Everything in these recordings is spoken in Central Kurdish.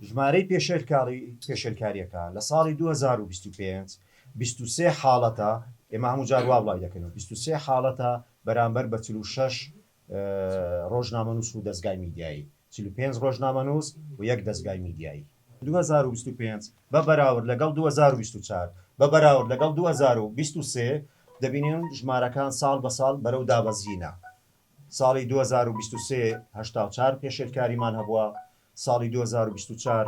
ژمارەی پێشێلکاری پێشێلکاریەکە لە ساڵی دوو هەزار و بیست و پێنج بیست و سێ حاڵەتە، ئێمە هەموو جار وا بڵاوی دەکەینەوە بیست و سێ حاڵەتە بەرامبەر بە چل و شەش رۆژنامەنووس و دەزگای میدیایی، چل و پێنج رۆژنامەنووس و یەک دەزگای میدیایی. دوو هەزار و بیست و پێنج بە بەراورد لەگەڵ دوو هەزار و بیست و چوار بە بەراورد لەگەڵ دوو هەزار و بیست و سێ دەبینین ژمارەکان ساڵ بە ساڵ بەرەو دابەزینە، ساڵی دوو هەزار و بیست و سێ هەشتا و چوار پێشێلکاریمان هەبووە، ساڵی دوو هەزار و بیست و چوار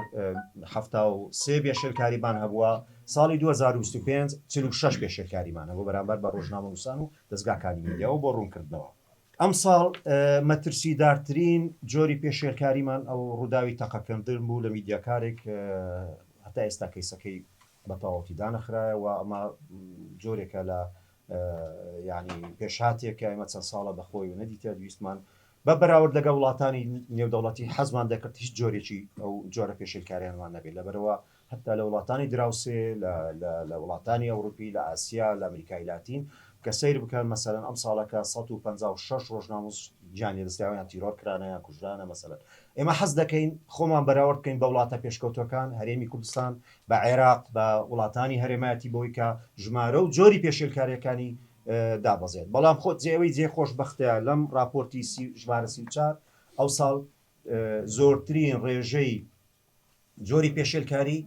حەفتا و سێ بێشێلکاریمان هەبووە، ساڵی دوو هەزار و بیست و پێنج چل و شەش بێشێلکاریمان هەبووە بەرامبەر بە ڕۆژنامەنووسان و دەزگاکانی میدیا و بۆ ڕوونکردنەوە ئەمساڵ مەترسیدارترین جۆری پێشێلکاریمان ئەو ڕووداوی تەقەکردن بوو لە میدیاکارێک هەتا ئێستا کەیسەکەی بە تەواوەتی دانەخرایەوە ئەمە جۆرێکە لە ینی پێشهاتێکە ئمە چەند ساڵە بەخۆی و نەدیتە دویستمان بە بەراورد لەگەڵ وڵاتانی نێودەوڵەتی حەزمان دەکرد هیچ جۆرێکی ئەو جۆرە پێشێلکاریانمان نەبێت لەبەرەوە هەتا لە وڵاتانی دراوسێ لە وڵاتانی ئەوروپی لە ئاسیا لە ئەمریکای لاتین کە سەیر بکەن مەسەرەن ئەم ساڵەکە 156 ڕۆژناموس گیانی دەستیاویان تیرۆر کرانە یان کوژرانە مەسەلەن ئێمە حەز دەکەین خۆمان بەراورد بکەین بە وڵاتە پێشکەوتەکان هەرێمی کوردستان بە عێراق بە وڵاتانی هەرێمایەتی بۆی کە ژمارە و جۆری پێشێلکاریەکانی دابەزێت بەڵام خۆ جێەوەی جێ خۆش بەختە لەم ڕاپۆرتی سی ژمارە سی و چار ئەوساڵ زۆرترین ڕێژەی جۆری پێشێلکاری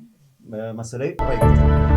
مەسلەی ڕێگرتن.